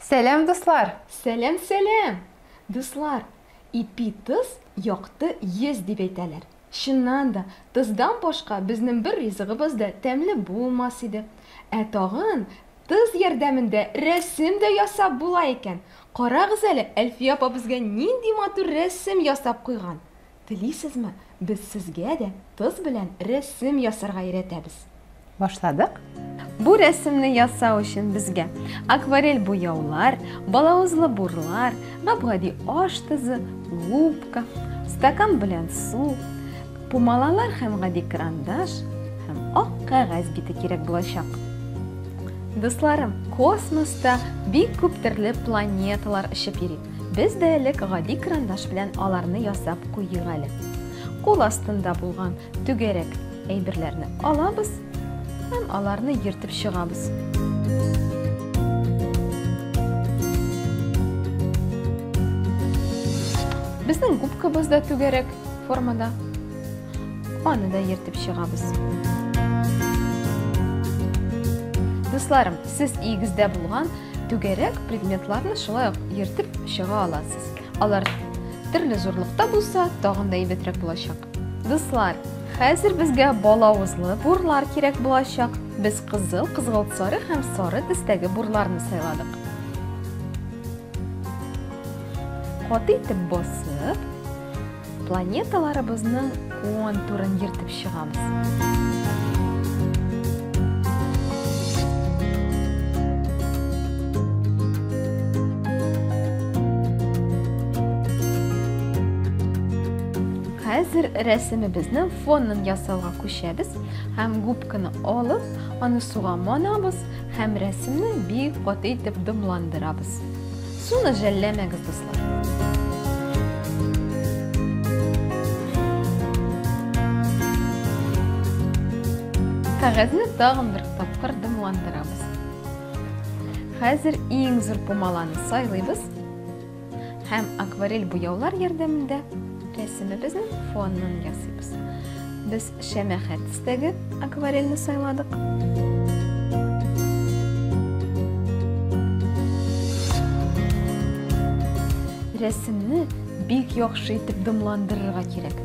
Сәләм, дуслар! Сәләм, сәләм! Дуслар, ипи тыз, якты йөз дип әйтәләр. Чыннан да, тыздан башка безнең бер ризыгыбыз да тәмле булмас иде. Ә тагын тыз ярдәмендә рәсем дә ясап була икән. Карагыз әле, Әлфия апа безгә нинди матур рәсем ясап куйган! Телисезме, без сезгә дә тоз белән рәсем ясарга өйрәтәбез? Башладык! Бу рәсемне ясау өчен безгә акварель буяулар, балавызлы бурлар, гап-гади аш тозы, губка, стакан белән су, Пумалалар һәм гади карандаш һәм ак кәгазь бите кирәк булачак. Дусларым, космоста бик күп төрле планеталар очып йөри. Без дә элек гади карандаш белән аларны ясап куйыйк әле. Кул астында булган түгәрәк әйберләрне алабыз һәм аларны ертып чыгабыз. Безнең губкабыз да түгәрәк, формада. Аны да ертып чыгабыз. Дусларым, сез игездә булган түгәрәк предметларны шулай ук ертып чыга аласыз. Алар төрле зурлыкта булса, тагын да әйбәтрәк булачак. Дуслар, хәзер безгә балавызлы бурлар кирәк булачак. Без кызыл, кызгылт сары һәм сары төстәге бурларны сайладык. Каты итеп басып, планеталарыбызның контурын ертып чыгамыз. Хәзер рәсемебезнең фонын ясауга күчәбез һәм губканы алып, аны суга манабыз Һәм рәсемне бик каты итеп дымландырабыз. Суны жәлләмәгез, дуслар. Кәгазьне тагын бер тапкыр дымландырабыз. Хәзер иң зур пумаланы сайлыйбыз. Һәм акварель буяулар ярдәмендә рәсемебезнең фонын ясыйбыз. Без шәмәхә төстәге акварельне сайладык. Рәсемне бик яхшы итеп дымландырырга кирәк.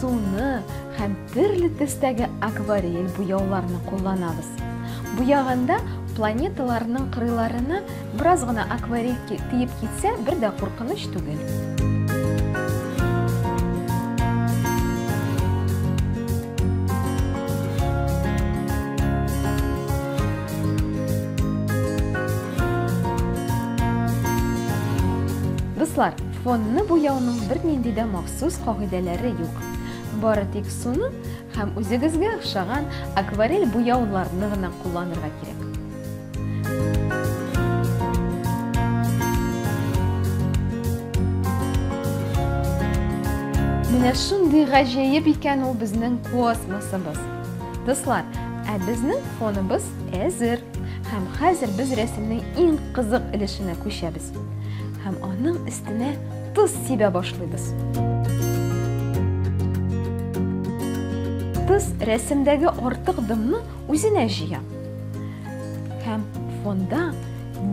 Суны һәм төрле төстәге акварель буяуларны кулланабыз. Буяганда планеталарның кырыйларына бераз гына акварель тиеп китсә, бер дә куркыныч түгел. Дуслар, фонны буяуның бернинди дә максаты Сүз кагыйдәләре юк. Бары тик суны һәм үзегезгә охшаган акварель буяуларны гына кулланырга кирәк. Менә шундый гаҗәеп икән ул безнең космосыбыз. Дуслар, ә безнең фоныбыз әзер. Һәм хәзер без рәсемнең иң кызык өлешенә күчәбез. Һәм аның өстенә Тоз сибә башлыйбыз. Тоз рәсемдәге артык дымны үзенә җыя. Һәм фонда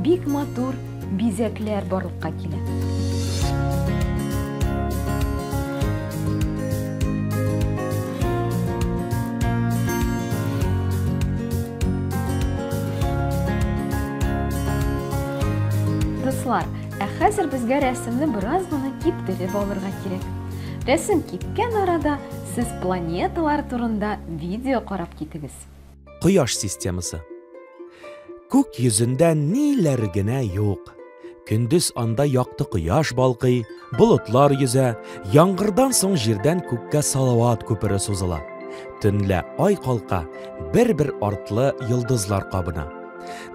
бик матур бизәкләр барлыкка килә. Дуслар, Ә хәзер безгә рәсемне бераз гына киптереп алырга кирәк. Рәсем кипкән арада сез планеталар турында видео карап китегез. Кояш системасы. Күк йөзендә ниләр генә юк. Көндез анда якты кояш балкый, болытлар йөзә, яңгырдан соң җирдән күккә салават күпере сузыла. Төнлә ай калка, бер-бер артлы йолдызлар кабына.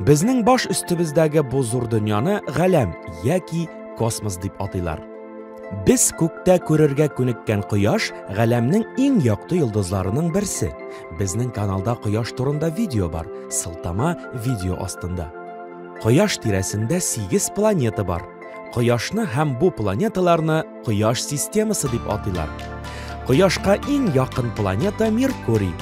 Безнең баш өстебездәге бу зур дөньяны галәм яки космос дип атыйлар. Без күктә күрергә күнеккән кояш галәмнең иң якты йолдызларының берсе. Безнең каналда кояш турында видео бар, сылтама видео астында. Кояш тирәсендә 8 планета бар. Кояшны һәм бу планеталарны Кояш системасы дип атыйлар. Кояшка иң якын планета Меркурий,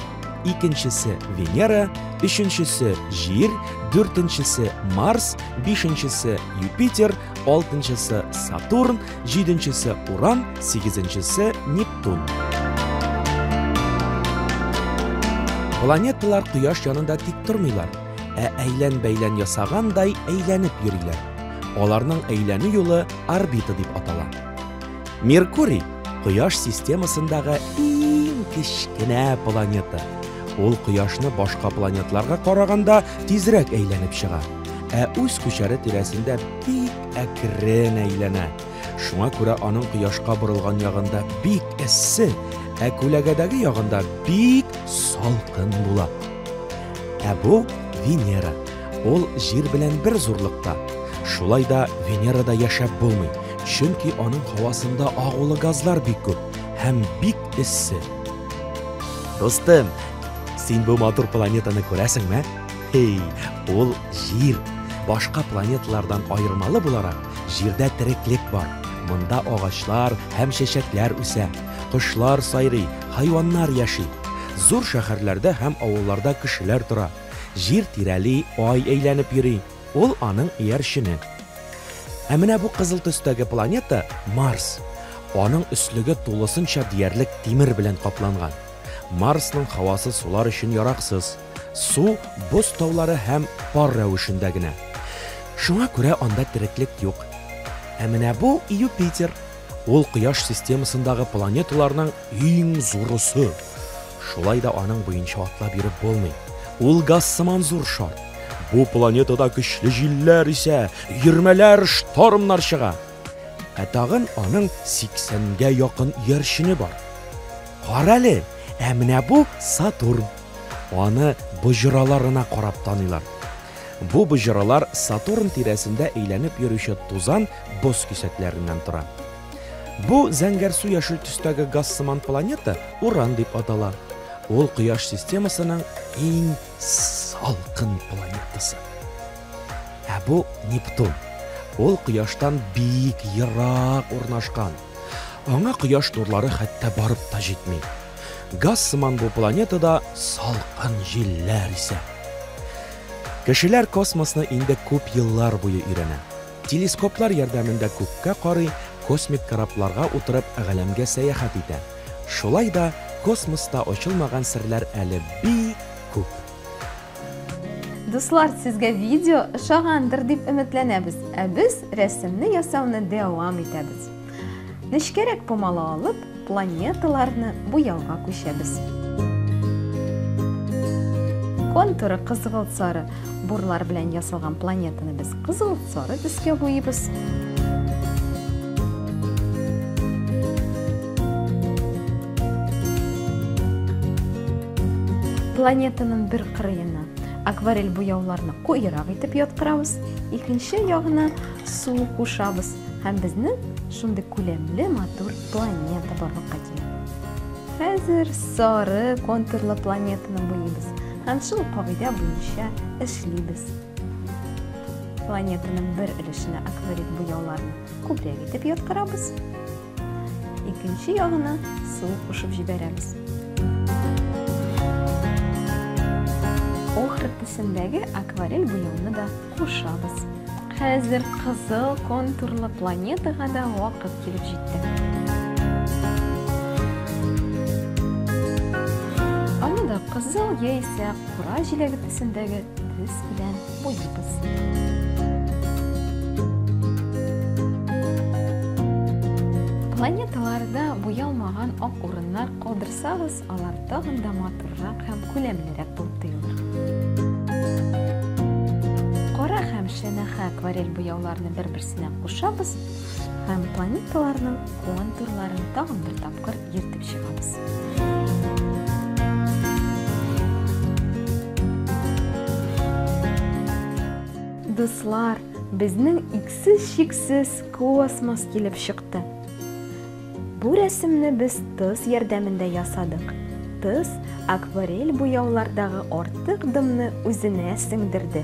икенчесе Венера, өченчесе Җир, дүртенчесе Марс, бишенчесе Юпитер, алтынчысы Сатурн, җиденчесе Уран, сигезенчесе Нептун. Планеталар Кояш янында тик тормыйлар, ә әйлән-бәйлән ясагандай әйләнеп йөриләр. Аларның әйләнү юлы орбита дип атала. Меркурий Кояш системасындагы иң кечкенә планета. Ул Кояшны башка планетларга караганда тизрәк әйләнеп чыга, ә үз күчәре тирәсендә бик әкрен әйләнә. Шуңа күрә аның Кояшка борылган ягында бик эссе, ә күләгәдәге ягында бик салкын була. Ә бу Венера. Ул Җир белән бер зурлыкта. Шулай да Венерада яшәп булмый, чөнки аның һавасында агулы газлар бик күп һәм бик эссе. Дустым, син бу матур планетаны күрәсеңме? Эй, ул Җир. Башка планеталардан аермалы буларак, Җирдә тереклек бар. Монда агачлар һәм чәчәкләр үсә, кошлар сайрый, хайваннар яши. Зур шәһәрләрдә һәм авылларда кешеләр тора. Җир тирәли, Ай әйләнеп йөри, ул аның иярчене. Ә менә бу кызыл төстәге планета, Марс. Аның өслеге тулысынча диярлек тимер белән капланган. Марсның һавасы сулар өчен яраксыз. Су боз таулары һәм пар рәвешендә генә. Шуңа күрә анда тереклек юк. Ә менә бу, Юпитер. Ул Кояш системасындагы планеталарның иң зурысы. Шулай да аның буенча атлап йөреп булмый. Ул газ сыман зур шар. Бу планетада көчле җилләр исә, өермәләр, штормнар чыга. Ә тагын аның 80 гә якын иярчене бар. Карале, ә менә бу Сатурн. Аны боҗраларына карап таныйлар. Бу боҗралар Сатурн тирәсендә әйләнеп йөрүче тузан, боз кисәкләреннән тора. Бу зәңгәрсу-яшел төстәге газ сыман планета Уран дип атала. Ул Кояш системасының иң салкын планетасы. Ә бу Нептун. Ул Кояштан бик ерак урнашкан. Аңа кояш нурлары хәтта барып та җитми. Газ сыман бу планетада салкын җилләр исә. Кешеләр космосны инде күп еллар буе өйрәнә. Телескоплар ярдәмендә күккә карый, космик корабларга утырып галәмгә сәяхәт итә. Шулай да космоста ачылмаган серләр әле бик күп. Дуслар, сезгә видео ошагандыр дип өметләнәбез, ә без рәсемне ясауны дәвам итәбез. Нечкәрәк помала алып, планеталарны буяуга күчәбез. Контуры кызгылт сары бурлар белән ясалган планетаны без кызыл сары төскә буйыбыз. Планетаның бер кырыена акварель буяуларны куерак итеп яткырабыз, икенче ягына су кушабыз һәм безне шундый күләмле матур планета барлыкка килә. Хәзер сары контурлы планетаны буйыбыз һәм шул кагыйдә буенча эшлибез. Планетаның бер өлешенә акварель буяуларны күбрәк итеп яткырабыз, Икенче ягына су кушып җибәрәбез. Охр төсендәге акварель буяуны да кушабыз. Хәзер кызыл контурлы планетага да вакыт килеп җитте. Аны да кызыл яисә кура җиләге төсендәге төс белән Буйыйбыз. Планеталарда буялмаган ак урыннар калдырсагыз, алар тагын да матуррак һәм күләмлерәк булып тоелыр. Кара һәм шәнәхә акварель буяуларны бер-берсенә кушабыз һәм планеталарның контурларын тагын бер тапкыр ертып чыгабыз. Дуслар, безнең иксез-чиксез космос килеп чыкты. Бу рәсемне без тыз ярдәмендә ясадык. Тыз акварель буяулардагы артык дымны үзенә сеңдерде.